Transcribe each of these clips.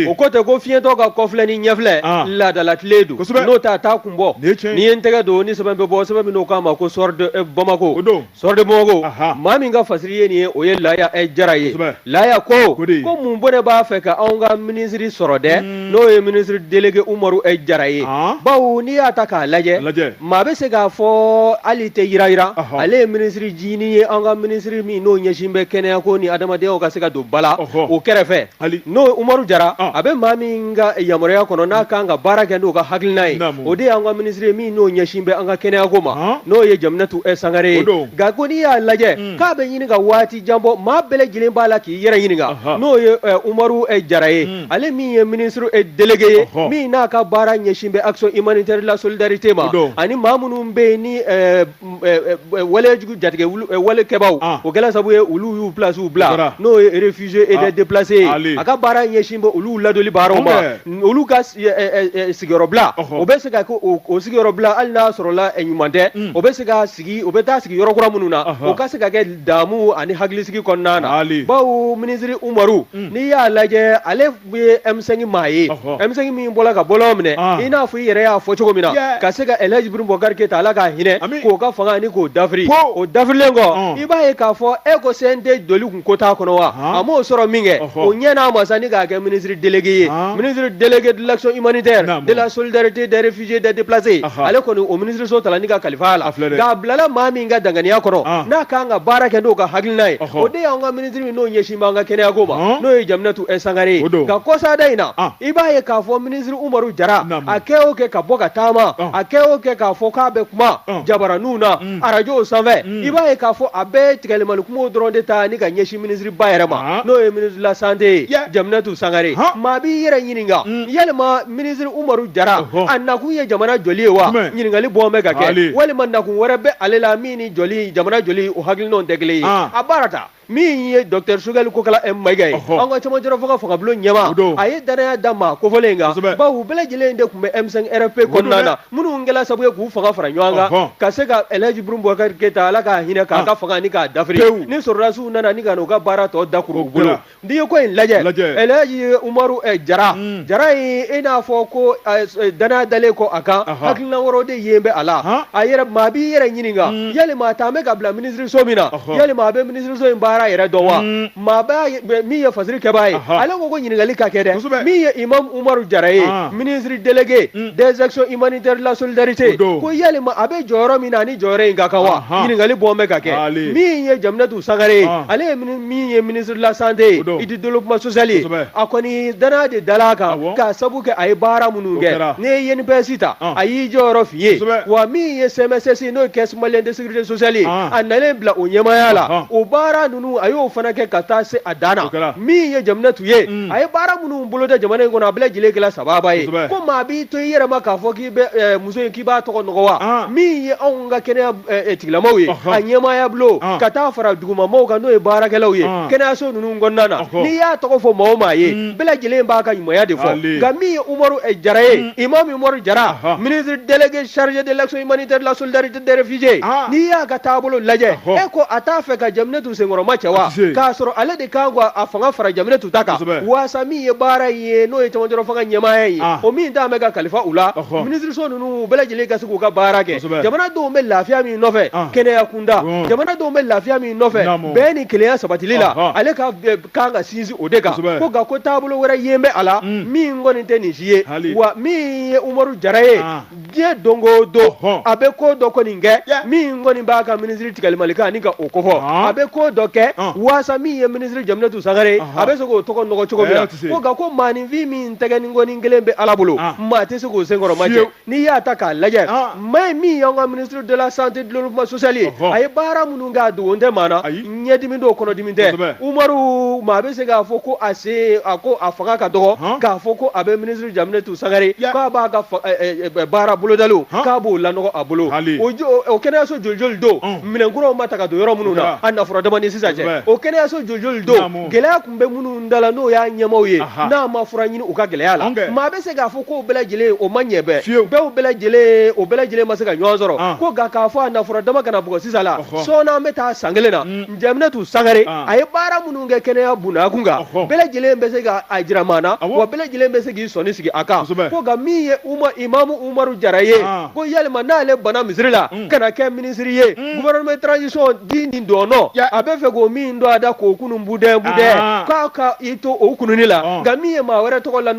o ko ten ko fiyentɔ ka kɔfilɛ ni ɲɛfilɛ ah. laadalatilen don n'o tɛ a t'a kun bɔ n'i ye n tɛgɛ don ni sɛbɛn bɛ bɔ sɛbɛn min n'o k'a ma ko soir de eh, bamako soir de bamako maa min ka fasiri ye nin ye o ye laya eh, jara ye laya ko ko mun bɔnɛ b'a fɛ ka anw ka minisiri sɔrɔ dɛ hmm. n'o ye minisiri delege umaru eh, jara ye ah. bawo n'i y'a ta k'a lajɛ maa bɛ se k'a fɔ hali tɛ yirayira ale ye minisiri jini ye an ka minisiri min n'o ɲɛsin bɛ kɛnɛyako ni adamadenya ka se ka don ba la o kɛrɛfɛ Ale n'o ye Umaru Jara ɔn a bɛ maa min ka yamaruya kɔnɔ n'a kan ka baara kɛ n'o ka hakilina ye naamu o de y'an ka ministre ye min n'o ɲɛsin bɛ an ka kɛnɛya ko ma ɔnhɔn n'o ye Jaminatu ɛ Sangare ye o don nka ko n'i y'a lajɛ unn k'a bɛ ɲini ka waati jan bɔ maa bɛɛ lajɛlen b'a la k'i yɛrɛ ɲininka ɔnhɔn n'o ye ɛ Umaru ɛ Jara ye unn ale min ye ministre ɛ délégué ye ɔnhɔn min n'a ka baara ɲɛsin bɛ action humanitaire de la solidarité o ma don ani maa minnu bɛ yen ni ɛɛ walejugu jatigɛwale kɛbaw o kɛla sabu ye olu y'u placew bila n'o ye réfugiés et des déplacés ye a ka baara ɲɛsin bɛ olu ladoli baaraw ma olu ka sigiyɔrɔbila o bɛ se ka o sigiyɔrɔbila hali n'a sɔrɔla ɲuman tɛ o bɛ se ka sigi o bɛ taa sigi yɔrɔkura minnu na o ka se ka kɛ damu ani hakilisigi kɔnɔna na bawo minisiri umaru n'i y'a lajɛ ale ye M5 maa ye, ɔhɔ, M5 min bɔla ka bɔlɔn minɛ, an, i n'a fɔ i yɛrɛ y'a fɔ cogo min na, yeah, ka se ka El Hadj Ibrahim Boubacar Keita Ala k'a hinɛ, ami, k'o ka fanga ni k'o dafiri, po, o dafirilen kɔ, ɔn, i b'a ye k'a fɔ e ko CNT doli kun ko t'a kɔnɔ wa, han, a m'o sɔrɔ min kɛ, ɔhɔ, o ɲɛ n'a ma sa ni k'a kɛ ministre délégué ye, an, ministre délégué de l'action humanitaire, naamu, de la solidarité des réfugiés des déplacés, aha, ale kɔni o ministre so tala ni ka kalifa a la, a filɛ dɛ, nka a bilala maa min ka danganiya kɔrɔ, an, n'a ka kan ka baara kɛ n'o ka hakilina ye, ɔhɔ, o de y'anw ka ministre n'o ɲɛsin b'an ka kɛnɛya ko ma n'o ye Jaminatu ɛ Sangare ye nka kɔsada in na i b'a ye k'a fɔ minisiri Umaru Jara a kɛ o kɛ ka bɔ ka taama a kɛ o kɛ k'a fɔ k'a bɛ kuma jabaraninw na arajow sanfɛ i b'a ye k'a fɔ a bɛ tigɛlimani kumaw dɔrɔn de ta ni ka ɲɛsin minisiriba yɛrɛ ma n'o ye ministre de la santé ye Jaminatu Sangare maa b'i yɛrɛ ɲininka yalima minisiri Umaru Jara a nakun ye jamana jɔli ye wa ɲininkali bɔn bɛ ka kɛ walima nakun wɛrɛ bɛ ale la min ni jɔli jamana jɔli o hakilinaw tɛ kelen ye a baara ta min ye docteur Choguel Kokalla Maiga ye an ka camancɛrɔ fanga fangabulon ɲɛmaa a ye dannaya da maa kofɔlen kan bawo u bɛɛ lajɛlen in de tun bɛ M5 RFP kɔnɔna na minnu kɛla sabu ye k'u fanga fara ɲɔgɔn kan ka se ka El Hadj Ibrahim Boubacar Keita ala k'a hinɛ k'a ka fanga ni k'a dafiri ni sɔrɔdasiw nana ni ka na u ka baara tɔ dakuru u bolo N'i ye ko in lajɛ El Hadj umaru jara jara in i n'a fɔ ko dannaya dalen kɔ a kan hakilina wɛrɛw de yen bɛ a la a yɛrɛ maa b'i yɛrɛ ɲininka yalima a ta bɛ ka bila minisiriso min na yalima a bɛ minisiriso in baara yɛrɛ dɔn wa maa min ye fasiri kɛbaa ye ale ko ɲininkali ka kɛ dɛ min ye imamu umaru jara ye ministre délégué des actions humanitaires de la solidarité ko yalima a bɛ jɔyɔrɔ min na ani jɔyɔrɔ in ka kan wa ɲininkali bɔ bɛ ka kɛ min ye Sangare ye ale ye min ye ministre de la santé et du développement social ye a kɔni dannaya de dal'a kan k'a sabu kɛ a ye baara minnu kɛ n'i ye INPS ta a y'i jɔyɔrɔ fin yen wa min ye CMSS n'o ye caisse malienne de sécurité sociale ye a nalen bila o ɲɛmaaya la o baara ninnu a y'o fana kɛ ka taa se a dan na min ye Jaminatu ye a ye baara minnu bolo da jamana in kɔnɔ a bɛɛ lajɛlen kɛla sababa ye ko maa b'i to i yɛrɛ ma k'a fɔ muso in k'i b'a tɔgɔ nɔgɔ wa min ye anw ka kɛnɛya tigilamaw ye a ɲɛmaaya bulon ka taa fara dugumamaaw kan n'o ye baarakɛlaw ye kɛnɛyaso ninnu kɔnɔna na n'i y'a tɔgɔ fɔ maa o maa ye bɛɛ lajɛlen b'a ka ɲumanya de fɔ nka min ye Umaru Jara ye imam Umaru Jara ministre délégué chargé de l'action humanitaire, de la solidarité des réfugiés n'i y'a ka taabolo lajɛ e ko a t'a fɛ ka Jaminatu senkɔrɔma cɛ wa k'a sɔrɔ ale de kan a fanga fara Jaminatu ta kan waasa min ye baara in ye n'o ye cɛmancɛrɔ fanga ɲɛmaaya ye o min tun bɛ ka kalifa u la minisiriso ninnu bɛɛ lajɛlen ka se k'u ka baara kɛ jamanadenw bɛ lafiya min nɔfɛ kɛnɛya kunda jamanadenw bɛ lafiya min nɔfɛ bɛɛ ni kelenya sabatili la ale ka kan ka sinsin o de kan ko nka ko taabolo wɛrɛ yen bɛ a la min kɔni tɛ nin si ye wa min ye Umaru Jara ye diɲɛ don o don a bɛ ko dɔ kɔni kɛ min kɔni b'a ka minisiri tigɛli mali kan ani ka o kofɔ a bɛ ko dɔ kɛ waasa min ye minisiri Jaminatu Sangare a bɛ se k'o tɔgɔ nɔgɔ cogo min na ko nka ko maaninfin min tɛgɛ ni kɔni kelen bɛ Ala bolo maa tɛ se k'o senkɔrɔma cɛ n'i y'a ta k'a lajɛ maa in min y'an ka ministre de la santé développement social ye a ye baara minnu kɛ a dogo tɛ maa na ɲɛdimi don kɔnɔdimi tɛ Umaru maa bɛ se k'a fɔ ko a fanga ka dɔgɔ k'a fɔ ko a bɛ Jaminatu Sangare k'a b'a ka baara bolodali k'a b'o lanɔgɔ a bolo o kɛnɛyaso joli joli don minɛnkuraw ma ta ka don yɔrɔ minnu na a na fɔlɔ dama ni sisan cɛ o kɛnɛyaso joli joli don gɛlɛya tun bɛ minnu da la n'o y'a ɲɛmaaw ye n'a ma fura ɲini u ka gɛlɛya la maa bɛ se k'a fɔ ko bɛɛ lajɛlen o ma ɲɛ bɛɛ dɔw bɛɛ lajɛlen o bɛɛ lajɛlen ma se ka ɲɔgɔn sɔrɔ ko nka k'a fɔ a na fɔlɔ dama ka na bugɔ sisan la sɔɔni an bɛ taa san kelen na Jaminatu Sangare a ye baara minnu kɛ kɛnɛya bunda kun kan bɛɛ lajɛlen bɛ se ka a jira maa na wa bɛɛ lajɛlen bɛ se k'i sɔnin sigi a kan ko nka min ye imamu Umaru Jara ye ko yalima n'ale bana misiri la ka na kɛ minisiri ye gouvernement de transition di nin dɔn a bɛ fɛ k'o min don a da k'o kunun budɛ budɛ k'a ka i to o kununni la nka min ye maa wɛrɛ tɔgɔ la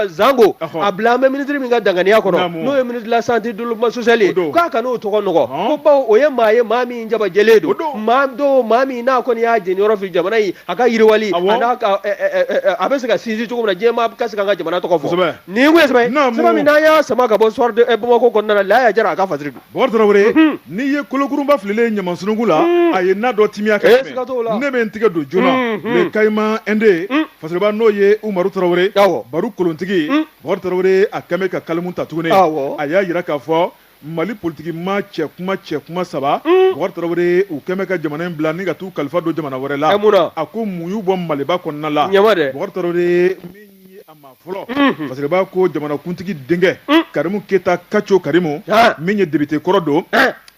zango a bila an bɛ minisiri min ka danganiya kɔnɔ n'o ye ministre de la santé développement social ye k'a kana o tɔgɔ nɔgɔ ko bawo o ye maa ye maa min jabajɛlen don maa don maa min n'a kɔni y'a jɛniyɔrɔ fin jamana in a ka yiriwali a a bɛ se ka sinsin cogo min na diɲɛmaa ka se ka an ka jamana tɔgɔ fɔ nin tun ye sɛbɛn ye sɛbɛn min n'an y'a sama ka bɔ Soir de Bamako kɔnɔna na Laya Jara a ka fa Bɔkari tarawele n'i ye kolokurunba fililen ye ɲaman sunuku la a ye na dɔ timiya ka tɛmɛ ne bɛ n tigɛ don joona ni kama nden fasiriba n'o ye umaru tarawele baro kolontigi bɔkari tarawele a kɛlen bɛ ka kalimu ta tuguni a y'a jira k'a fɔ mali politigi maa cɛ kuma cɛ kuma saba bɔkari tarawele u kɛlen bɛ ka jamana in bila ni ka taa u kalifa don jamana wɛrɛ la a ko mun y'u bɔ maliba kɔnɔna la Fasiriba ko jamanakuntigi denkɛ karimu keyita kaco karimu min ye député kɔrɔ don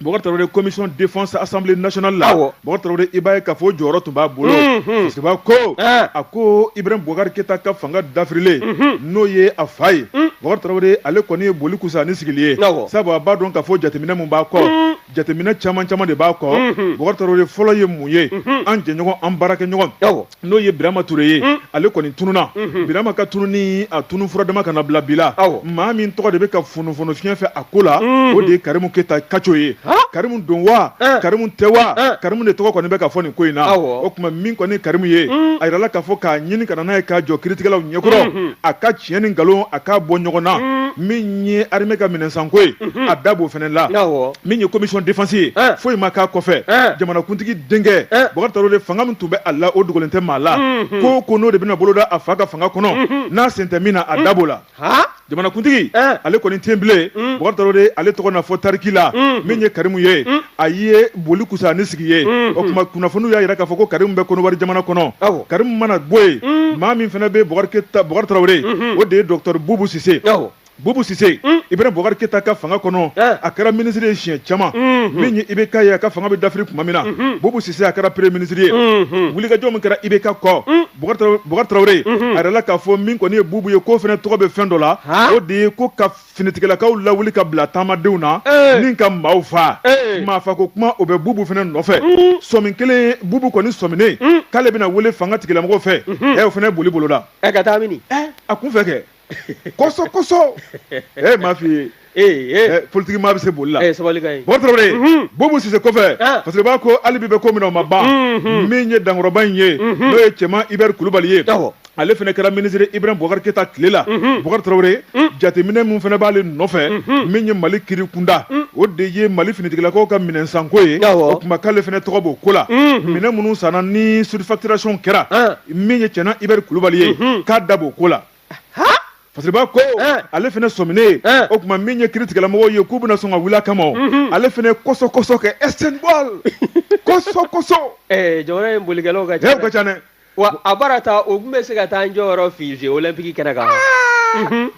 bɔkari tarawele commission défense assemblée nationale la bɔkari tarawele i b'a ye k'a fɔ jɔyɔrɔ tun b'a bolo fasiriba ko a ko ibrahim bukari keyita ka fanga dafirilen n'o ye a fa ye bɔkari tarawele ale kɔni ye boli kusa ni sigili ye sabu a b'a dɔn k'a fɔ jateminɛ min b'a kɔ jateminɛ caman caman de b'a kɔ bɔkari tarawele fɔlɔ ye mun ye an jɛɲɔgɔn an baara kɛ ɲɔgɔn n'o ye birama ture ye mm. ale kɔni tununa mm-hmm. birama ka tununi a tunu fura dama kana bila bila maa min tɔgɔ de bɛ ka funufunu fiɲɛ fɛ a ko la mm-hmm. o de ye karimu keyita kaco ye karimu don wa eh. karimu tɛ wa eh. karimu de tɔgɔ kɔni bɛ ka fɔ nin ko in na o tuma min kɔni karimu ye mm. a yirala k'a fɔ k'a ɲini ka na n'a ye k'a jɔ kiritigɛlaw ɲɛkɔrɔ mm-hmm. a ka tiɲɛ ni nkalon a k'a bɔ ɲɔgɔn na mm. min ye armée ka minɛnsanko ye mhm. a da b'o fana la min ye commission défense ye eh. foyi ma k'a kɔfɛ eh. jamanakuntigi denkɛ eh. Bubakari Tarawele fanga min tun bɛ a la o dogolen tɛ maa la mhm. ko ko n'o de bɛna boloda a fa ka fanga kɔnɔ mhm. n'a sen tɛ min na a da b'o la jamanakuntigi ale kɔni tɛ bilen Bubakari Tarawele ale tɔgɔ na fɔ tariki la min ye Karimu ye a ye boli kusa ni sigi ye mm, o mm. tuma kunnafoniw y'a jira k'a fɔ ko karimu bɛ konowari jamana kɔnɔ karimu mana bɔ yen mm. maa min fana bɛ bɔkari tarawele mm-hmm. o de ye dɔgɔtɔrɔ bubu sise bubu sise ibrahim bɔkari keyita ka fanga kɔnɔ eh. a kɛra minisiri ye siɲɛ caman mm-hmm. min ye ibk ye a ka fanga bɛ dafiri tuma min na mm-hmm. bubu sise a kɛra premier minisiri ye wulikajɔ min kɛra ibk kɔ bɔkari tarawele a yirala k'a fɔ min kɔni ye bubu ye k'o fana tɔgɔ bɛ fɛn dɔ la o de ye ko ka finitigilakaw lawuli ka bila taamadenw na ni ka maaw fa maafa ko kuma o bɛ bubu fana nɔfɛ mm. sɔmi kelen bubu kɔni sɔminen mm. k'ale bɛna wele fangatigilamɔgɔw fɛ mm-hmm. ɛ o fana boli bolo la ka taa mini a kun fɛ kɛ kɔsɔ kɔsɔ ɛ m'a f'i ye Eh, eh. Eh, politiki maa bɛ se boli la bɔkari tarawele mhm. bubu sise kɔfɛ ah. fasiriba ko hali bi bɛ ko min na o ma ban mhm. min ye dankɔrɔba in ye mhm. n'o ye cɛman ibɛri kulubali ye ale fana kɛra minisiri ibrahim bukari keyita tile la bukari tarawele jateminɛ min fana b'ale nɔfɛ min ye mali kiri kunda o de ye mali finitigilakaw ka minɛnsanko ye o tuma k'ale fana tɔgɔ b'o ko la minɛn minnu sanna ni surfacturation kɛra min ye cɛna ibɛri kulubali ye k'a da b'o ko la fasiriba ko ale fana sɔminen o tuma min ye kiritigɛlamɔgɔw ye k'u bɛna sɔn ka wuli a kama ale fana kɔsɔ kɔsɔ kɛ e bɔ kɔsɔ kɔsɔ jamana in bolikɛlaw ka ca Wa a bara ta o tun bɛ se ka taa an jɔyɔrɔ fa jeux olympique kɛnɛ kan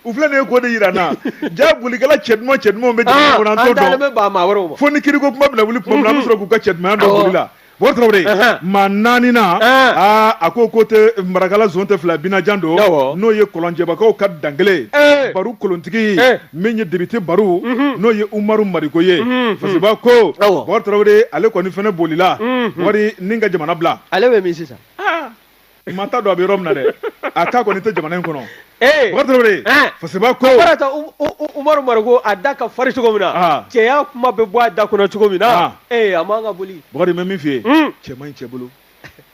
u filɛ nin ye ko de jira an na jaa bolikɛla cɛ duman cɛ duman bɛ jamana kɔnɔ an t'o dɔn fo ni kiri ko kuma bɛna wuli tuma min na an bɛ sɔrɔ k'u ka cɛ dumanya dɔn boli la bɔkari tarawele maa naani aa a ko ko tɛ marakala zone tɛ fila binajan don n'o ye kɔlɔnjɛbakaw ka dankelen baru kolontigi min ye député baru n'o ye umaru mariko ye parce que b'a ko bɔkari tarawele ale kɔni fana bolila bɔkari ni ka jamana bila ale bɛ min sisan maa t'a dɔn a bɛ yɔrɔ min na dɛ a k'a kɔni tɛ jamana in kɔnɔ bɔkari tarawele parce que b'a ko umaru mariko a da ka fari cogo min na cɛya kuma bɛ bɔ a da kɔnɔ cogo min na ee a man kan ka boli bɔkari bɛ min f'i ye cɛ man ɲi cɛ bolo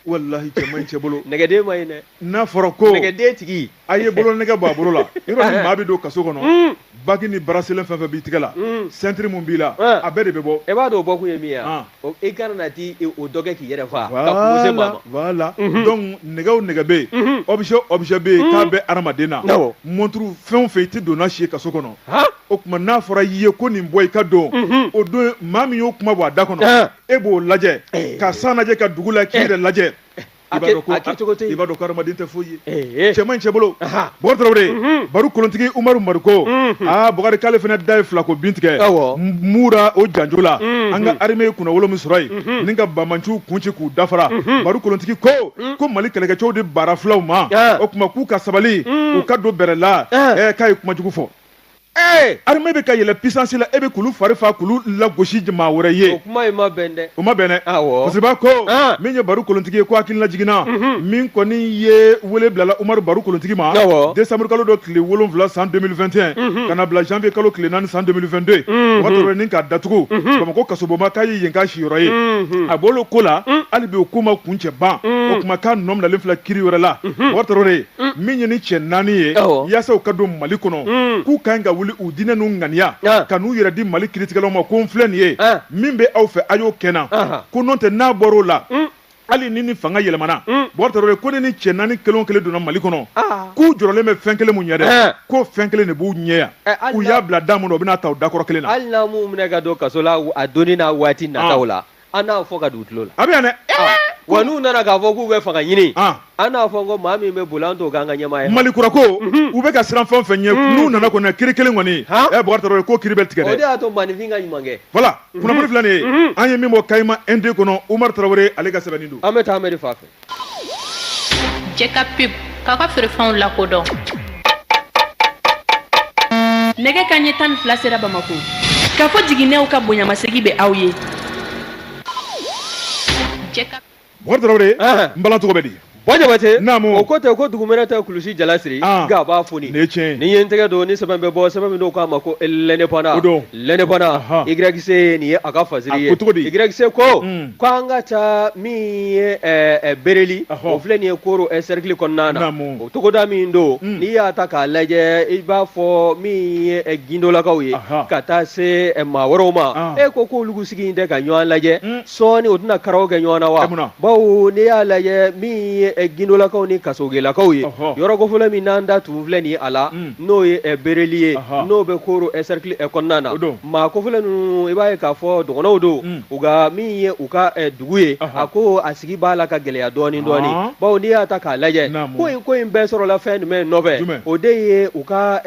walahi cɛ man ɲi cɛ bolo nɛgɛden man ɲi dɛ n'a fɔra ko nɛgɛden tigi a ye bolo nɛgɛ bɔ a bolo la yɔrɔ ni maa bɛ don kaso kɔnɔ mm. baki ni baraselen fɛn fɛn b'i tigɛ la mm. sentiri min b'i la eh. a bɛɛ de bɛ bɔ e b'a dɔn o bɔ kun ye min ye ah. i kana na ti e, o dɔ kɛ k'i yɛrɛ faa ka kunko se maa ma voilà mhm. donc nɛgɛ o nɛgɛ bɛ yen mhm. objet objet bɛ yen mhm. k'a bɛ adamaden na monturu fɛn o fɛn i tɛ don n'a si ye kaso kɔnɔ o tuma n'a fɔra i ye ko nin bɔ i ka don o don maa min y'o kuma bɔ a da kɔnɔ eh. e b'o lajɛ eh. ka san lajɛ ka dugu la k'i eh. yɛrɛ lajɛ eh. i b'a dɔn ko hadamaden tɛ foyi ye cɛ man ɲi cɛ bolo Bɔkari Tarawele mhm. Baru kolontigi Umaru Mariko mhm. aa Bɔkari k'ale fana da ye filako bin tigɛ mura o janjo la mhm. an ka arime ye kunnawolo min sɔrɔ yen ni ka bamanciw kun ci k'u da fara Baru kolontigi ko ko Mali kɛlɛkɛcɛw de baara filaw ma o tuma k'u ka sabali u ka don bɛrɛ la k'a ye kuma jugu fɔ Ee! Armée bɛ ka yɛlɛ puissance la e bɛ k'olu fari faa k'olu lagosi maa wɛrɛ ye. O kuma in ma bɛn dɛ. O ma bɛn dɛ. Awɔ. Parce que i b'a ko. An! Min ye Baru kolontigi ye ko hakililajigin na. Unhun! Min kɔni ye wele bilala Umaru Baru kolontigi ma. Awɔ! Décembre kalo don tile 7 san 2021. Unhun! Ka na bila janvier kalo tile 4 san 2022. Unhun! Bɔkari Tarawele ni k'a datugu. Unhun! Bamakɔ kasobonba k'a ye yen k'a siyɔrɔ ye. Unhun! A bɔlen o ko la. Un! Hali bi o ko ma kuncɛ ban. Un! O tuma k'a nɔ minɛlen filɛ kiri wɛrɛ la. Unhun! Bɔkari Tarawele. mm. min ye ni cɛ naani ye yaasa u ka don mali kɔnɔ mm. k'u ka ɲi ka wuli u diɲɛ n'u ŋaniya ah. ka n'u yɛrɛ di mali kiritigɛlaw ma ko n filɛ nin ye ah. min bɛ aw fɛ a y'o kɛ n na ko n'o tɛ n'a bɔr'o la mm. hali ni ni fanga yɛlɛmana bɔkari tarawele ko ne ni cɛ naani kelen o kelen donna mali kɔnɔ ah. k'u jɔrɔlen bɛ fɛn kelen min ɲɛ dɛ eh. k'o fɛn kelen de b'u ɲɛ yan eh, u y'a bila da min na u bɛn'a ta o da kɔrɔ kelen na hali n'a m'u minɛ ka don kaso la a donni n'a waati nataw la an n'a fɔ ka don u tulo la a bɛ yan dɛ ah, wa n'u nana k'a fɔ k'u bɛ fanga ɲini ah. an n'a fɔ ko maa min bɛ boli an t'o k'an ka ɲɛmaa ye mali kura ko mhm. u bɛ ka siran fɛn o fɛn ɲɛ mhm. n'u nana kɔni kiri kelen kɔni bɔkari tarawele ko kiri bɛ tigɛ dɛ o de y'a to maaninfin ka ɲuman kɛ voilà mhm. kunnafoni filɛ nin ye an ye min bɔ kayima nd kɔnɔ umaru tarawele ale ka sɛbɛnni don an bɛ taa amɛri fan fɛ Jɛ ka pub k'a ka feerefɛnw lakodɔn nɛgɛ kanɲɛ tan ni fila sera bamakɔ ka fɔ jiginnenw ka bonyamasegin bɛ aw ye Bokari tarawele n bala cogo bɛ di bɔ jabate naamu o ko tɛ ko dugumɛnɛ tɛ kulusi jalasiri nka a b'a foni nin ye tiɲɛ nin ye n tɛgɛ don ni sɛbɛn bɛ bɔ sɛbɛn min don k'a ma ko l'Indépendant o don l'Indépendant YC nin ye a ka fasiri ye YC ko k' an ka taa min ye bereli o filɛ nin ye koro cercle kɔnɔna na o togoda min don n'i y'a ta k'a lajɛ i b'a fɔ min ye gindolakaw ye ka taa se maa wɛrɛw ma e ko k'olu sigi in tɛ ka ɲɔgɔn lajɛ sɔɔni u tɛna karaw kɛ ɲɔgɔn na wa bawo n'i y'a lajɛ min ye eh, gindolakaw ni kasogelakaw ye yɔrɔ kofɔlen min n'an da tun filɛ nin a la mm. n'o ye eh, bereli ye n'o bɛ koro eh, cercle kɔnɔna na maa kofɔlen ninnu i b'a ye k'a fɔ dɔgɔnɔw don mm. u ka min ye u ka dugu ye a ko a sigi b'a la ka gɛlɛya dɔɔni dɔɔni bawo n'i y'a ta k'a lajɛ ko in ko in bɛɛ sɔrɔla fɛn jumɛn nɔfɛ o de ye u ka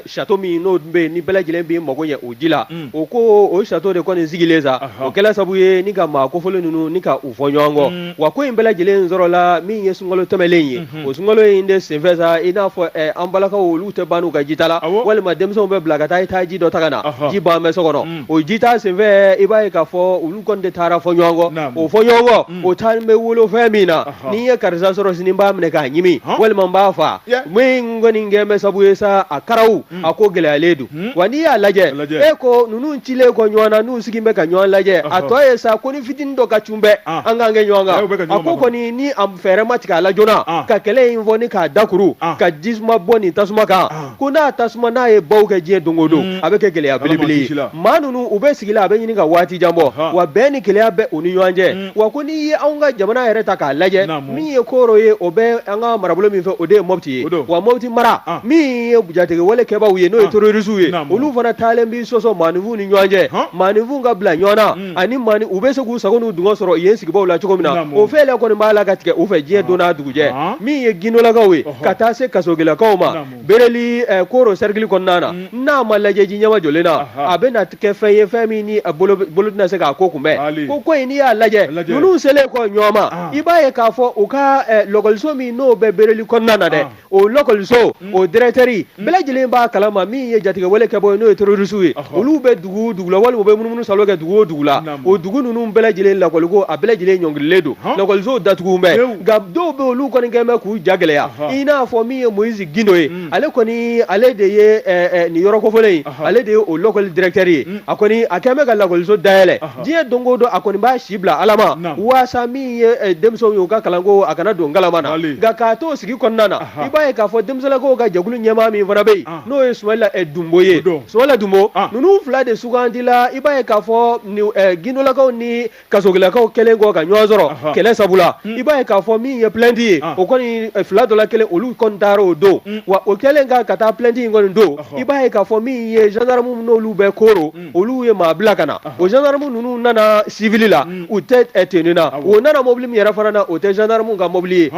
château min n'o bɛ ni bɛɛ lajɛlen bɛ mago ɲɛ o ji la mm. o ko o château de kɔni sigilen sa o kɛla sabu ye ni ka maa kofɔlen ninnu ni ka u fɔ ɲɔgɔn kɔ mm. wa ko in bɛɛ lajɛlen sɔrɔla min ye sunkalo tɛmɛlen ye mm-hmm. o sunkalo in de senfɛ sa i n'a fɔ eh, an balakaw olu tɛ ban n'u ka jita la walima denmisɛnw bɛ bila ka taa i taa ji dɔ ta ka na ji ban bɛ so kɔnɔ mm. o jita senfɛ i b'a ye k'a fɔ olu kɔni de taara fɔ ɲɔgɔn kɔ o fɔ ɲɔgɔn kɔ mm. o taalen bɛ wolo fɛn min na n'i ye karisa sɔrɔ sini n b'a minɛ k'a ɲimi walima n b'a faa min kɔni kɛ bɛ sabu ye sa a karaw a ko gɛlɛyalen don wa n'i y'a lajɛ e ko ninnu cilen kɔ ɲɔgɔn na n'u sigilen bɛ ka ɲɔgɔn lajɛ a tɔ ye sa ko ni fitinin dɔ ka cun bɛɛ an k'an kɛ ɲɔgɔn kan a ko kɔni ni a fɛɛrɛ ma tigɛ a la joona ka kɛlɛ in fɔ ni k'a dakuru ka jisuma bɔ nin tasuma kan ko n'a tasuma n'a ye baw kɛ diɲɛ don o don a bɛ kɛ gɛlɛya belebele ye maa ninnu u bɛ sigi la a bɛ ɲini ka waati jan bɔ wa bɛn ni kelenya bɛ u ni ɲɔgɔn cɛ wa ko n'i ye anw ka jamana yɛrɛ ta k'a lajɛ min ye koro ye o bɛ an ka marabolo min fɛ o de ye Mopti ye wa Mopti mara ah. min ye jatigɛwale kɛbaw ye n'o ye ah. terorisiw ye olu fana taalen bɛ sɔsɔ maaninfinw ni ɲɔgɔn cɛ maaninfinw ka bila ɲɔgɔn na mm. ani u bɛ se k'u sago n'u dungɔ sɔrɔ yen sigibaw la cogo min na o fɛɛrɛ kɔni b'a la ka tigɛ u fɛ diɲɛ ah. don n'a dugujɛ min ye gindolakaw ye ka taa se kasogelakaw ma Bereli koro cercle kɔnɔna na n'a ma lajɛ ji ɲɛmajɔlen na a bɛ na kɛ fɛn ye fɛn min ni bolo tɛna se k'a ko kunbɛn ko ko in n'i y'a lajɛ ninnu selen kɔ ɲɔgɔn ma i b'a ye k'a fɔ u ka lakɔliso min n'o bɛ bereli kɔnɔna na dɛ o lakɔliso o directeur bɛɛ lajɛlen b'a kalama min ye jatigɛwale kɛbaw ye n'o ye terorisiw ye olu dugu dugu la walima u bɛ munumunu salo kɛ dugu o dugu la o dugu ninnu bɛɛ lajɛlen lakɔliko a bɛɛ lajɛlen ɲɔngirilen don lakɔlisow datugu bɛ nka dɔw bɛ olu kɔni kɛlen bɛ k'u ja gɛlɛya i n'a fɔ min ye Moise Gindo ye mm. ale kɔni ale de ye eh, eh, nin yɔrɔ kofɔlen in ale de ye o lakɔli directeur ye mm. a kɔni a kɛlen bɛ ka lakɔliso dayɛlɛ diɲɛ don o don a kɔni b'a si bila Ala ma waasa min ye eh, denmisɛnw ye u ka kalanko a kana don ngalama na nka k'a to o sigi kɔnɔna na i b'a ye k'a fɔ denmisɛnninlakaw ka jɛkulu ɲɛmaa min fana bɛ yen n'o ye Sumayila eh, Dunbo ye Sumayila Dunbo ah. ninnu fila de sugandila i b'a ye k'a fɔ eh, gindolakaw ni kasogilakaw kɛlen kɔ ka ɲɔgɔn sɔrɔ kɛlɛ sabula hmm. i b'a ye k'a fɔ min ye plainte ye ah. o kɔni eh, fila dɔ la kelen olu kɔni taara o don hmm. wa o kɛlen ka ka taa plainte in kɔni don i b'a ye k'a fɔ min ye gendarme n'olu bɛ Koro hmm. olu ye maa bila ka na o gendarme ninnu nana civil la u tɛ tenue na o nana mobili min yɛrɛ fana na o tɛ gendarme ka mobili ye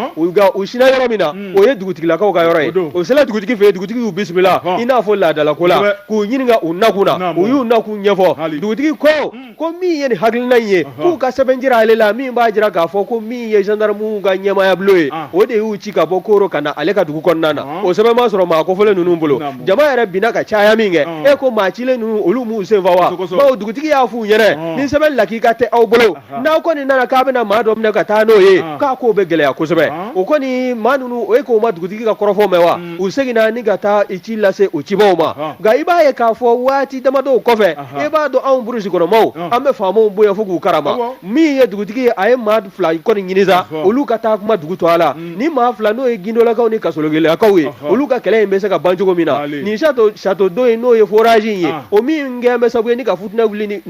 u sina yɔrɔ min na o ye dugutigilakaw ka yɔrɔ ye o sera dugutigi fɛ yen dugutigi y'u bisimila i n'a fɔ laadalako la k'u ɲininka u nakun na u y'u nakun ɲɛfɔ dugutigi ko ko min ye nin hakilina in ye k'u ka sɛbɛn jira ale la min b'a jira k'a fɔ ko min ye gendarme ka ɲɛmaayabulon ye o de y'u ci ka bɔ Koro ka na ale ka dugu kɔnɔna na o sɛbɛn ma sɔrɔ maa kofɔlen ninnu bolo jama yɛrɛ binna ka caya min kɛ e ko maa cilen ninnu olu m'u senfa wa bawo dugutigi y'a f'u ɲɛnɛ ni sɛbɛn lakika tɛ aw bolo n'aw kɔni nana k'a bɛna maa dɔ minɛ ka taa n'o ye k'a ko bɛ gɛlɛya kosɛbɛ o kɔni maa ninnu o e k'o ma dugutigi ka kɔrɔfɔ mɛn wa u seginna ni ka taa i ci lase o cibaw ma nka i b'a ye k'a fɔ waati damadɔw kɔfɛ i b'a dɔn anw burusi kɔnɔmaw an bɛ faamaw bonya fo k'u karama min ye dugutigi ye a ye maa fila kɔni ɲini sa olu ka taa kuma dugu tɔgɔ la ni maa fila n'o ye gindolakaw ni kasogilakaw ye olu ka kɛlɛ in bɛ se ka ban cogo min na nin château d'eau in n'o ye forage in ye o min kɛn bɛ sababu ye ni ka futinɛ wuli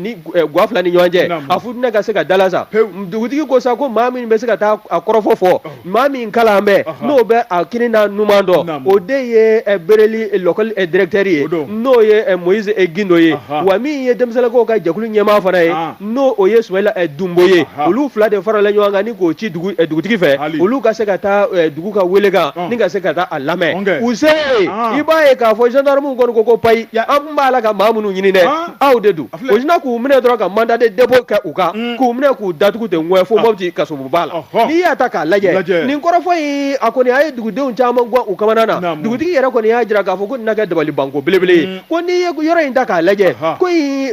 ga fila ni ɲɔgɔn cɛ a futinɛ ka se ka dala sa dugutigi ko sa ko maa min bɛ se ka taa a kɔrɔfɔ fɔ maa min kalan bɛ n'o bɛ a kini n'a numan dɔn o de ye Bereli lakɔli directeur ye n'o ye Moise Gindo ye wa min ye denmisɛnninlakaw ka jɛkulu ɲɛmaa fana ye n'o o ye Sumayila ɛ Dunbo ye anhan olu 2 de farala ɲɔgɔn kan ni k'o ci dugu ɛ dugutigi fɛ Hali olu ka se ka taa ɛ dugu ka welekan ɔn ni ka se ka taa a lamɛ ɔn kɛ u se ɔɔn i b'a ye k'a fɔ gendarmew kɔni ko ko payi ya an tun b'a la ka maa minnu ɲini dɛ ɔɔn aw de don a filɛ u sina k'u minɛ dɔrɔn ka mandat de dépôt kɛ u kan uun k'u minɛ k'u datugu ten ŋɔɛ fo a Mopti kasobonba la ɔhɔ n'i y'a ta k'a lajɛ lajɛ nin kɔrɔfɔ in a kɔni a ye dugudenw caman gwan u kamana na naamu dugutigi yɛrɛ kɔni y'a jira k'a fɔ ko nin na kɛ dabalibanko belebele ye uun ko n'i ye yɔrɔ in ta k'a lajɛ ko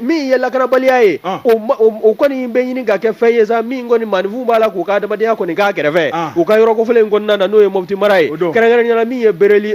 min ye lakanabaliya ye o kɔni bɛ ɲini ka kɛ fɛn ye sa min kɔni maaninfin b'a la k'u ka adamadenya kɔni k'a kɛrɛfɛ u ka yɔrɔ kofɔlen in kɔnɔna na n'o ye Mopti mara ye kɛrɛnkɛrɛnnenya la min ye Bereli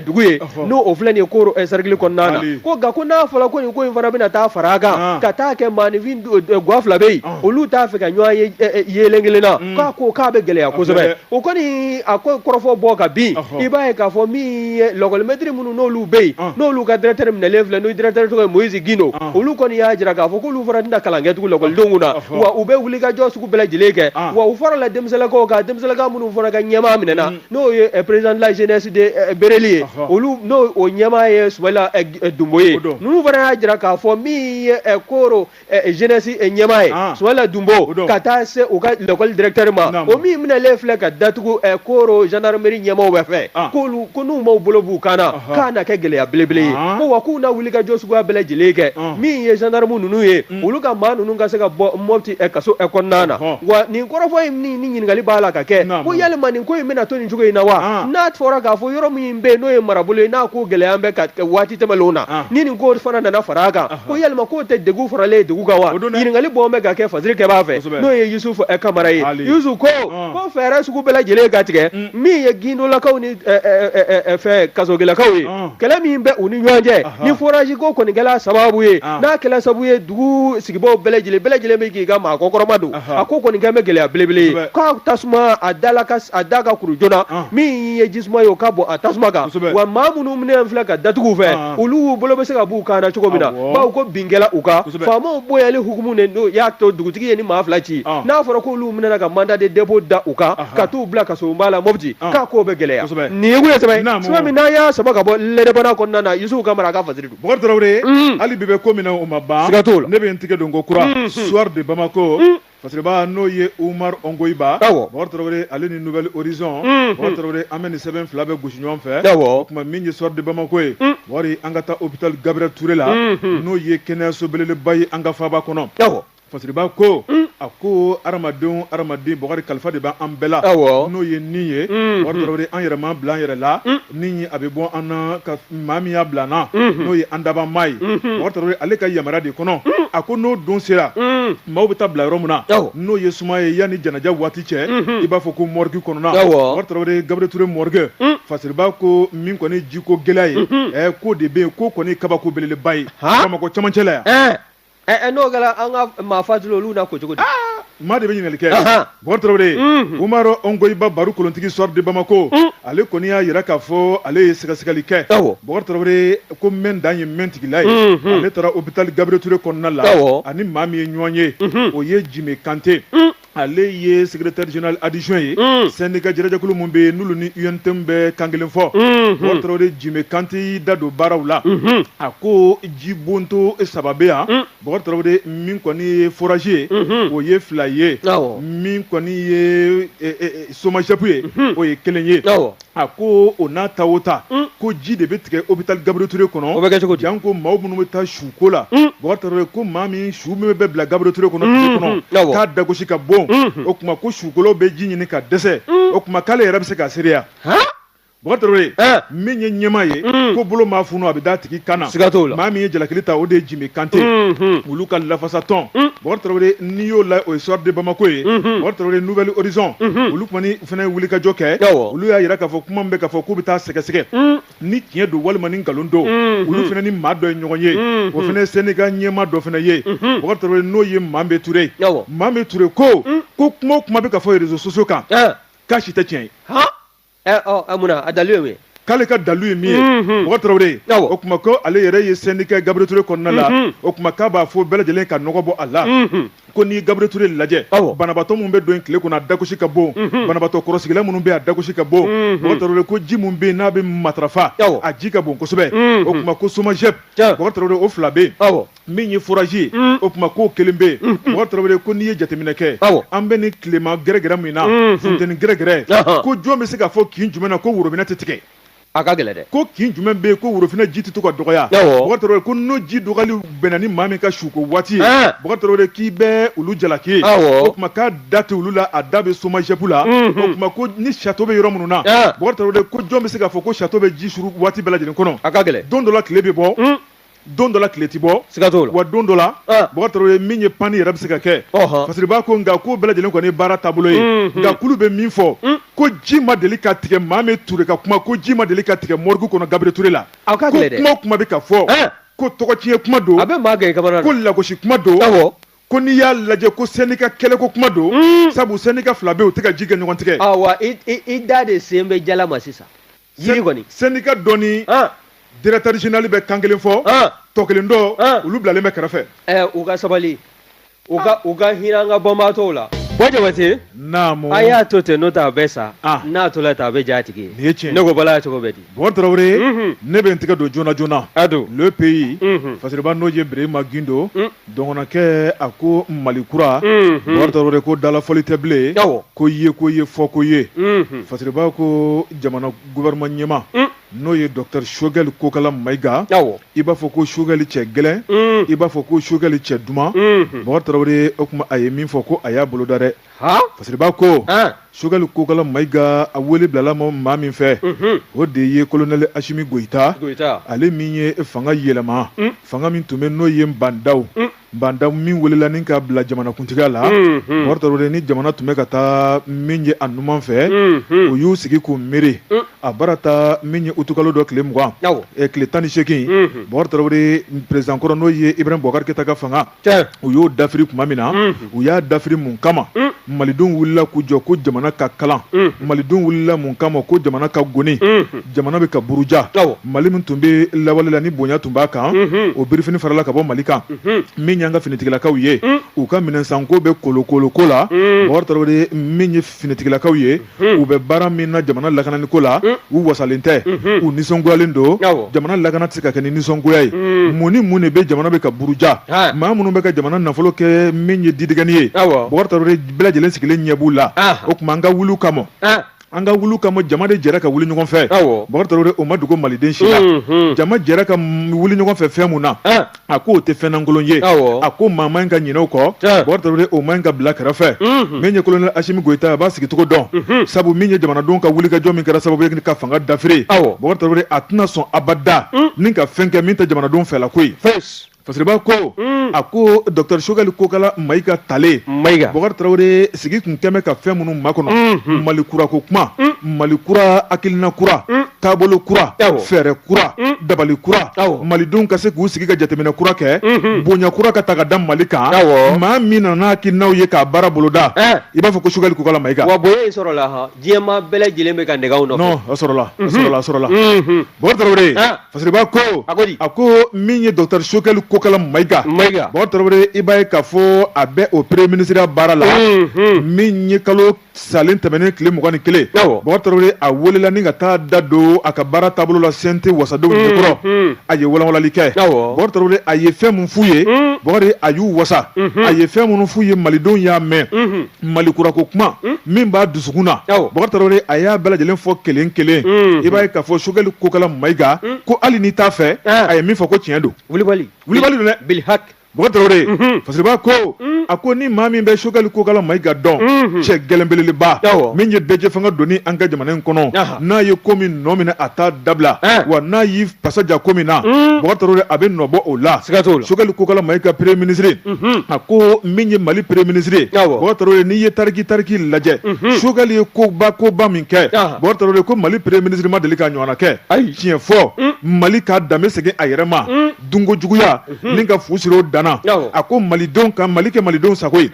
dugu ye n'o o filɛ nin ye Koro cercle kɔnɔna na ko nka ko n'a fɔra ko nin ko in fana bɛna taa fara a kan ka taa kɛ maaninfin ga fila bɛ yen olu t'a fɛ ka ɲɔgɔn ye yelen kelen na k'a ko k'a bɛ gɛlɛya kosɛbɛ o kɔni a ko kɔrɔfɔ bɔ ka bin i b'a ye k'a fɔ min ye lakɔlimɛtiri minnu n'olu bɛ yen n'olu ka directeur minɛlen filɛ n'o directeur tɔgɔ ye moïse gindo olu kɔni y'a jira k'a fɔ k'olu fana tɛna kalan kɛ tugun lakɔlidenw na wa u bɛ wuli ka jɔ sugu bɛɛ lajɛlen kɛ wa u farala denmisɛnninlakaw kan denmisɛnninlaka minnu fana ka ɲɛmaa minɛna n'o ye président de la jeunesse de bereli ye olu n'o o ɲɛmaa ye sumayila dunbo ye ninnu fana y'a jira k'a fɔ min ye koro eh, jeunesse eh, ɲɛmaa ye ah. sumayila dunbo ka taa se u ka l'école directeur ma o min minɛlen filɛ ka datugu eh, koro gendarmerie ɲɛmaaw bɛɛ fɛ ah. k'olu ko n'u m'u bolo b'u kan na k'a na kɛ gɛlɛya belebele ye ah. ko wa k'u na wuli ka jɔ suguya bɛɛ lajɛlen kɛ min ye gendarme ninnu ye mm. olu ka maa ninnu ka se ka bɔ mopti kaso kɔnɔna na wa nin kɔrɔfɔ in ni ɲininkali b'a la ka kɛ ko yalima nin ko in bɛna to nin cogo in na wa n'a fɔra k'a fɔ yɔrɔ min bɛ yen n'o ye marabolo ye n'a ko gɛlɛya bɛ ka waati tɛmɛlenw na ni nin ko fana nana fara a kan ko yalima k'o tɛ degun faralen ye degun kan wa ɲininkali bɔn bɛ ka kɛ fasiri kɛba fɛ n'o ye yusufu eh, kamara ye yusufu ko ah. ko fɛɛrɛ sugu bɛɛ lajɛlen ka tigɛ mm. min ye gindolakaw ni eh, eh, fɛ kasogelakaw ye ah. kɛlɛ min bɛ u ni ɲɔgɔn cɛ ni foraji ko kɔni kɛla sababu ye ah. n'a kɛla sababu ye dugu sigibaw bɛɛ lajɛlen bɛɛ lajɛlen bɛ k'i ka maa kɔkɔrɔmadon a ko kɔni kɛn bɛ gɛlɛya belebele ye k'a tasuma a da ka kuru joona min ye jisuma ye o ka bɔn a tasuma kan wa maa minnu minɛn filɛ ka datugu fɛ olu bolo bɛ se ka b'u kan na cogo min na bawo ko bin kɛla u kan faamaw bonyali hukumu de don y'a to dugutigi ye nin maa fila ci n'a fɔra k'olu minɛna ka mandat de dépôt da u kan ka t'u bila kasoba la mopti k'a k'o bɛ gɛlɛya nin kun ye sɛbɛn min n'an y'a sama ka bɔ l'indépendant kɔnɔna na yusufu kamara a ka fasiri don bokari tarawele hali bi bɛ ko min na o ma ban ka ne bɛ n tigɛ don ko kura soir de bamakɔ Fasiriba n'o ye umaru ongoyiba bokari tarawele ale ni nouvel horizon bokari tarawele an bɛ nin sɛbɛn fila bɛ gosi ɲɔgɔn fɛ o tuma min ye soir de bamakɔ ye bokari an ka taa hôpital gabriel touré la n'o ye kɛnɛyaso belebeleba ye an ka faaba kɔnɔ fasiriba ko a ko adamadenw adamaden bokari kalifa de bɛ an bɛɛ la n'o ye ni ye bokari tarawele an yɛrɛ m'a bila an yɛrɛ la ni a bɛ bɔ an na ka maa min y'a bila an na n'o ye an dabaa maa ye bokari tarawele ale ka yamaruya de kɔnɔ a ko n'o don sera maaw bɛ taa bila yɔrɔ min na n'o ye suma ye yanni janaja waati cɛ i b'a fɔ ko morgue kɔnɔna bokari tarawele gabriel touré morgue fasiriba ko min kɔni jiko gɛlɛya ye ɛ ko de bɛ yen ko kɔni kabako belebeleba ye bamakɔ camancɛ la yan n'o kɛra an ka maa fatulen olu na ko cogo di maa de bɛ ɲininkali kɛ Bokari tarawele umaru ongoyiba baro kolontigi soir de bamakɔ ale kɔni y'a jira k'a fɔ ale ye sɛgɛsɛgɛli kɛ bokari tarawele ko mɛn dan ye mɛntigila ye ale taara hôpital gabriel touré kɔnɔna la a ni maa min ye ɲɔgɔn ye o ye jime kante ale ye secrétaire général adjoint ye syndicat jɛrɛjɛkulu minnu bɛ yen n'olu ni UNTM bɛ kan kelen fɔ bokari tarawele jime kante y'i da don baaraw la a ko ji bonto saba bɛ yan Bɔkari Tarawele min kɔni ye forazi ye, unhun, o ye fila ye, awɔ, min kɔni ye SOMAGEP ye, unhun, o ye kelen ye, awɔ, a ko o n'a ta o ta, un, ko ji de bɛ tigɛ hopital Gabriel Toure kɔnɔ, o bɛ kɛ cogo di, janko maa minnu bɛ taa suko la, un, Bɔkari Tarawele ko maa min su min bɛ bila Gabriel Toure kɔnɔ tile kɔnɔ, unhun, k'a dagosi ka bon, unhun, o tuma ko sukolaw bɛ ji ɲini ka dɛsɛ, un, o tuma k'ale yɛrɛ bɛ se k'a seereya, han Bɔkari Tarawele min ye ɲɛmaa ye ko bolo maa funu a bɛ da tigi kan na maa min ye jalakili ta o de ye Jime Kante olu ka lafasatɔn Bɔkari Tarawele n'i y'o la o ye Soir de Bamakɔ ye Bɔkari Tarawele Nouvel Horizon olu kɔni fana wulikajɔ kɛ olu y'a jira k'a fɔ kuma min bɛ ka fɔ k'u bɛ taa sɛgɛsɛgɛ ni tiɲɛ don walima ni nkalon don olu fana ni maa dɔ ye ɲɔgɔn ye o fana syndicat ɲɛmaa dɔ fana ye Bɔkari Tarawele n'o ye Mambe Ture Mambe Ture ko kuma o kuma bɛ ka fɔ réseaux sociaux kan k'a si tɛ tiɲɛ ye munna a dalu ye k'ale ka dalu ye min ye Bɔkari Tarawele o tuma ko ale yɛrɛ ye syndicat Gabriel Toure kɔnɔna la o tuma k'a b'a fɔ bɛɛ lajɛlen ka nɔgɔ bɔ a la ko n'i Gabriel Toure lajɛ banabaatɔ minnu bɛ don tile kɔnɔ a dagosi ka bon banabaatɔ kɔrɔsigila minnu bɛ a dagosi ka bon Bɔkari Tarawele ko ji min bɛ n'a bɛ matarafa a ji ka bon kosɛbɛ o tuma ko SOMAGEP Bɔkari Tarawele o fila bɛ yen min ye forazi mm. o tuma k'o kelen bɛ mm. Bɔkari Tarawele ko n'i ye jateminɛ kɛ an bɛ ni tilema gɛrɛgɛrɛ min na mm. funteni gɛrɛgɛrɛ ko jɔn bɛ se k'a fɔ kin jumɛn na ko worobinɛ tɛ tigɛ a ka gɛlɛ dɛ ko kin jumɛn bɛ yen ko worofinɛ ji tɛ to ka dɔgɔya Bɔkari Tarawele ko n'o ji dɔgɔyali bɛnna ni maa min ka suko waati ye Bɔkari Tarawele k'i bɛ olu jalaki o tuma k'a da tɛ olu la a da bɛ SOMAGEP la mhm. o tuma ko ni sato bɛ yɔrɔ minnu na Bɔkari Tarawele ko jɔn bɛ se k'a fɔ ko sato bɛ ji suru waati bɛɛ lajɛlen kɔnɔ a ka gɛlɛ don dɔ la tile bɛ bɔ mm. don dɔ la tile tɛ bɔ siga t'o la wa don dɔ la ah. Bɔkari Tarawele min ye panni yɛrɛ bɛ se ka kɛ Fasiriba ko nka k'o bɛɛ lajɛlen kɔni ye baara taabolo ye mm, mm. nka k'olu bɛ min fɔ mm. ko ji ma deli ka tigɛ Mambe Ture ka kuma ko ji ma deli ka tigɛ mɔrigu kɔnɔ Gabiriyɛli Ture la ko kuma o kuma bɛ ka fɔ ko tɔgɔtiɲɛ kuma don ko lagosi kuma don ko n'i y'a lajɛ ko syndicat kɛlɛko kuma don mm. sabu syndicat fila bɛ u tɛ ka ji kɛ ɲɔgɔn tigɛ awa i da de sen bɛ jala ma sisan yiri kɔni syndicat dɔ ni ah. directeur général bɛ kan kelen fɔ ah. tɔ kelen dɔ ah. olu bilalen bɛ kɛrɛfɛ eh, u ka sabali u ka u ka hinɛ an ka banabaatɔw la Bɔ Jabate naamu a y'a to ten n'o tɛ a bɛ sa n'a tola ten a bɛ ja a tigi ye nin ye tiɲɛ ne ko bala y'a cogo bɛ di Bɔkari Tarawele mhm. ne bɛ n tɛgɛ don joona joona a don Le Pays mhm. Fasiriba n'o ye Birahima Gindo mm. Dɔgɔnɔkɛ a ko Mali kura Bɔkari Tarawele ko dalafɔli tɛ bilen ko ye ko ye fɔ ko ye Fasiriba ko jamana gouvernement ɲɛmaa n'o ye docteur Choguel Kokala Mayiga i b'a fɔ ko Choguel cɛ gɛlɛn i b'a fɔ ko Choguel cɛ duman Bɔkari Tarawele o tuma a ye min fɔ ko a y'a boloda dɛ Fasiriba ko sogɛli kokala mayiga a wele bilala maa min fɛ o de ye kolonɛli asimi goyita ale min ye fanga yɛlɛma fanga min tun bɛ n'o ye bandaw bandaw min welela ni ka bila jamanakuntigiya la bokari tarawele ni jamana tun bɛ ka taa min ye a numan fɛ u y'u sigi k'u miiri a baara taa min ye utukalo dɔ tile mugan tile tan ni seegin bokari tarawele perezidan kɔrɔ n'o ye ibrahim bubakari keyita ka fanga u y'o dafiri tuma min na u y'a dafiri mun kama malidenw wulila k'u jɔ ko jamana ka kalan malidenw wulila mun kama ko jamana ka goni jamana bɛ ka buruja mali min tun bɛ lawale la ni bonya tun b'a kan o birifini farala ka bɔ mali kan min y'an ka finitigilakaw ye u ka minɛnsanko bɛ kolokoloko la bokari tarawele min finitigilakaw ye u bɛ baara min na jamana lakanani ko la u wasalen tɛ u nisɔngoyalen don jamana lakana tɛ se ka kɛ ni nisɔngoya ye mun ni mun de bɛ jamana bɛ ka buruja maa minnu bɛ ka jamana nafolo kɛ min ye didigɛni ye bokari tarawele bɛɛ lajɛlen sigilen ɲɛ b'u la o tuma an ka wuli u kama an ka wuli u kama jama de jɛra ka wuli ɲɔgɔn fɛ bokari tarawele o ma dogo maliden si la jama jɛra ka wuli ɲɔgɔn fɛ fɛn mun na a ko o tɛ fɛn lankolon ye a ko maa man ka ɲinɛ o kɔ bokari tarawele o man ka bila kɛrɛfɛ min ye kolonɛli asimi goyita a b'a sigicogo dɔn sabu min ye jamanadenw ka wulikajɔ min kɛra sababu ye ka fanga dafiri bokari tarawele a tɛna sɔn abada ni ka fɛn kɛ min tɛ jamanadenw fɛla ko ye fasiriba ko a ko dɔkɔtɔrɔ sogɛli kokala mayiga tale bokari tarawele sigi tun kɛlen bɛ ka fɛn minnu makɔnɔ mali kurako kuma mali kura hakilina kura taabolo kura fɛɛrɛ kura mm. dabali kura malidenw ka se k'u sigi ka jateminɛ kura kɛ mm-hmm. bonya kura ka ta ka da mali kan maa min nana n'a hakilinaw ye k'a baara boloda eh. i b'a fɔ ko sogɛli kokala mayiga wa bonya in sɔrɔla ha diɲɛmaa bɛɛ lajɛlen bɛ ka nɛgɛw nɔfɛ non a sɔrɔla a mm-hmm. sɔrɔla a sɔrɔla mm-hmm. bokari tarawele eh. fasiriba ko a ko min ye docteur sogɛli kokala mayiga bokari tarawele i b'a ye k'a fɔ a bɛ o premier ministre baara la min ye kalo salen tɛmɛnen tile mugan ni kelen bokari tarawele a welela ni ka taa da don a ka baara taabolo la CNT wasadenw mm, ɲɛkɔrɔ mm. a ye walanwalali kɛ bokari tarawele a ye fɛn min f'u ye mm. bokari a y'u wasa mm-hmm. a ye fɛn minnu f'u ye malidenw y'a mɛn mm-hmm. mali kurako kuma min b'a dusukun na bokari tarawele a y'a bɛɛ lajɛlen fɔ kelen kelen mm-hmm. i b'a ye k'a fɔ sogɛli kokala mayiga ko hali n'i t'a fɛ ah. a ye min fɔ ko tiɲɛ don wulibali wulibali don dɛ bilihaki fasiriba ko a ko ni maa min bɛ sogɛli kokala mayiga dɔn cɛ gɛlɛn belebeleba min ye bɛɛjɛfanga donni an ka jamana in kɔnɔ n'a ye ko min nɔ minɛ a t'a dabila wa n'a y'i fasa ja ko min na bokari tarawele a bɛ nɔbɔ o la sogɛli kokala mayiga premier ministre a ko min ye mali premier ministre bokari tarawele n'i ye tariki tariki lajɛ sogɛli ye koba koba min kɛ bokari tarawele ko mali premier ministre ma deli k'a ɲɔgɔnna kɛ a ye tiɲɛ fɔ mali ka danbe segin a yɛrɛ ma dunko juguya ni ka fu siri o danana a ko malidenw ka mali kɛ malidenw sago ye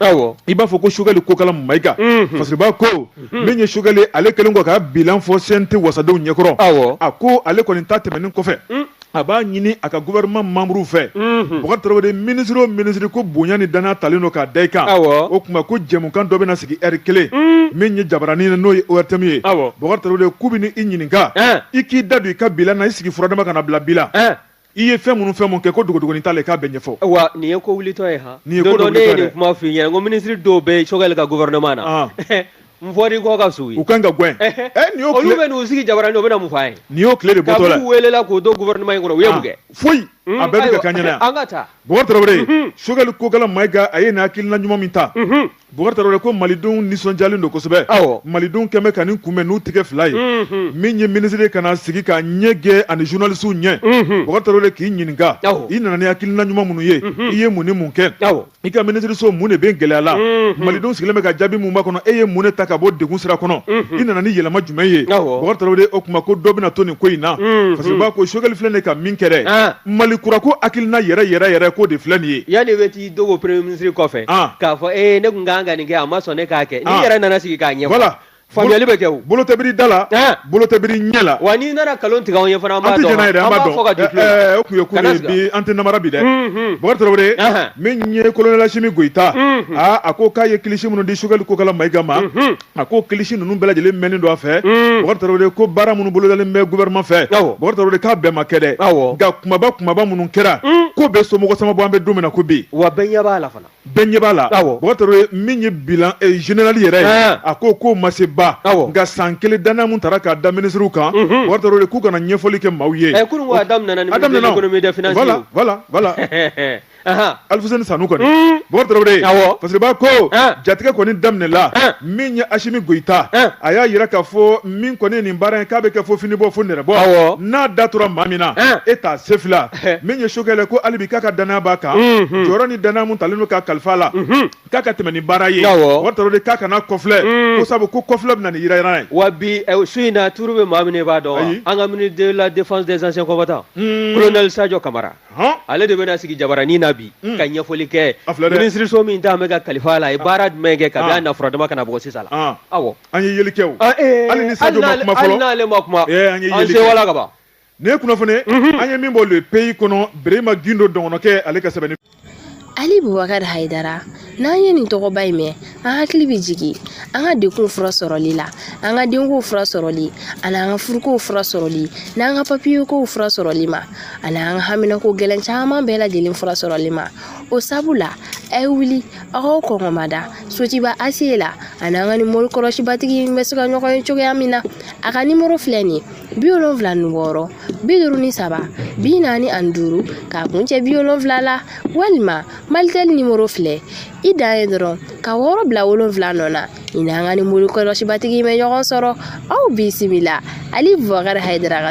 i b'a fɔ ko Choguel Kokala Mayiga Fasiriba ko min ye Choguel ye ale kelen kɔ ka bilan fɔ CNT wasadenw ɲɛkɔrɔ a ko ale kɔni ta tɛmɛnen kɔfɛ a b'a ɲini a ka gouvernement membre fɛ Bubakari Tarawele minisiri o minisiri ko bonya ni danaya talen don k'a da i kan o tuma ko jɛmukan dɔ bɛna sigi heure kelen min ye jabaranin ye n'o ye ORTM ye Bubakari Tarawele k'u bɛ i ɲininka i k'i da don i ka bilan na i sigi furadama ka na bila bi la i ye fɛn minnu fɛn mun kɛ ko dogodogonin t'a la i k'a bɛɛ ɲɛfɔ wa nin ye ko wulitɔ ye han nin ye ko dɔ ne ye nin kuma f'i ɲɛna ko minisiri dɔw bɛ Choguel ka gouvernement na n fɔri kɔ ka suwi u kan ka gɛn nin y'o olu bɛ n'u sigi jabaranin ɲɛ u bɛna mun f'an ye nin y'o tile de bɔtɔ la k'u welela k'u don gouvernement in kɔnɔ u ye mun kɛ foyi a bɛɛ bɛ ka kɛ an ɲɛna yan an ka taa Bɔkari Tarawele Choguel Kokala Mayiga a ye nin hakilina ɲuman min ta Bokari Tarawele ko malidenw nisɔndiyalen don kosɛbɛ, awɔ, malidenw kɛn bɛ ka nin kunbɛn n'u tigɛ fila ye, unhun, min ye minisiri ye ka na sigi ka ɲɛ gɛn ani journalistes ɲɛ, unhun, Bokari Tarawele k'i ɲininka, awɔ, i nana ni hakilina ɲuman minnu ye, unhun, i ye mun ni mun kɛ, awɔ, i ka minisiriso mun de bɛ gɛlɛya la, unhun, malidenw sigilen bɛ ka jaabi min makɔnɔ e ye mun de ta ka bɔ degun sira kɔnɔ, unhun, i nana ni yɛlɛma jumɛn ye, awɔ, Bokari Tarawele o tuma ko dɔ bɛna to nin ko in na, unhun, Fasiriba ko Choguel filɛ nin ye ka min kɛ dɛ, an, Mali kura ko hakilina yɛrɛ yɛrɛ yɛrɛ k'o de filɛ nin ye, yani i bɛ t'i dogo premier ministre kɔfɛ ah. k'a fɔ ee eh, ne kun kan ka nin kɛ a ma sɔn ne k'a kɛ n'i ah. yɛrɛ nana sigi k'a ɲɛfɔ voilà faamuyali bɛ kɛ o bolo tɛ biri da la eh. bolo tɛ biri ɲɛ la wa n'i nana nkalon tigɛ anw ye fana an b'a dɔn an b'a fɔ k'a d'i tulo eh, o tun ye ko ye bi an tɛ namara bi dɛ Bubakari Tarawele min ye kolonɛli Asimi Goyita a ko k'a ye kilisi minnu di Choguel Kokala Mayiga ma a ko kilisi ninnu bɛɛ lajɛlen mɛnnen don a fɛ Bubakari Tarawele ko baara minnu bolodalen bɛ gouvernement fɛ Bubakari Tarawele k'a bɛɛ ma kɛ dɛ nka kumaba kumaba minnu kɛra k'o bɛ somɔgɔ sama bɔ an bɛ don min na ko bi wa bɛɛ ɲɛ b'a la fana bɛɛ ɲɛ b'a la Bubakari Tarawele min ye bilan général yɛrɛ ye a ko k'o ma se ba nka san kelen danaya min taara k'a da minisiriw kan Bubakari Tarawele k'u ka na ɲɛfɔli kɛ maaw ye Alfuseni Sanu kɔni Bubakari Tarawele Fasiriba ko jatigi kɔni daminɛ la min ye Asimi Goyita a y'a jira k'a fɔ min kɔni ye nin baara in k'a bɛ kɛ fo fini bɔ fo nɛrɛ bɔ n'a da tora maa min na e t'a se fila min ye Choguel ko hali bi k'a ka danaya b'a kan jɔyɔrɔ ni danaya min talen don k'a kalifa a la k'a ka tɛmɛ ni baara ye Bubakari Tarawele k'a kana kɔfilɛ ko sabu ko kɔfilɛ bɛ na ni yirayira ye wa bi su in na toujours bɛ maa min b'a dɔn an ka ministre de la défense des anciens combattants kolonɛli Sajɔ Kamara ale de bɛna sigi jabaranin na bi hmm. ka ɲɛfɔli kɛ minisiriso min talen bɛ k'a kalifa a la a ye ah. baara jumɛn kɛ kabi ah. a na furadama ka na bɔ sisan na ah. awɔ an ye yeli kɛ ah, eh, hali ni sa n'ale ma kuma eh, an sɛwala ka ban nin ye kunnafoni mhm. an ye min bɔ Le Pays kɔnɔ Berema Gindo dɔgɔnɔkɛ ale ka sɛbɛn ali bubakari hayidara n'an ye nin tɔgɔba in mɛn an hakili bɛ jigin an ka degunw fura sɔrɔli la an ka denkow fura sɔrɔli ani an ka furukow fura sɔrɔli n'an ka papiyekow fura sɔrɔli ma ani an ka haminako gɛlɛn caman bɛɛ lajɛlen fura sɔrɔli ma o sabu la a ye wuli aw k'aw kɔngɔmada sotuba aseyi la aw ni an ka nin mori kɔlɔsibatigi bɛ se ka ɲɔgɔn ye cogoya min na a ka nimoro filɛ nin ye bi wolonfila ni wɔɔrɔ bi duuru ni saba bi naani ani duuru k'a kun cɛ bi wolonfila la walima malitɛli nimoro filɛ i dan ye dɔrɔn ka wɔɔrɔ bila wolonfila nɔ na i n'an ka nin mori kɔlɔsibatigi bɛ ɲɔgɔn sɔrɔ aw bisimila ali bubakari hayidara ka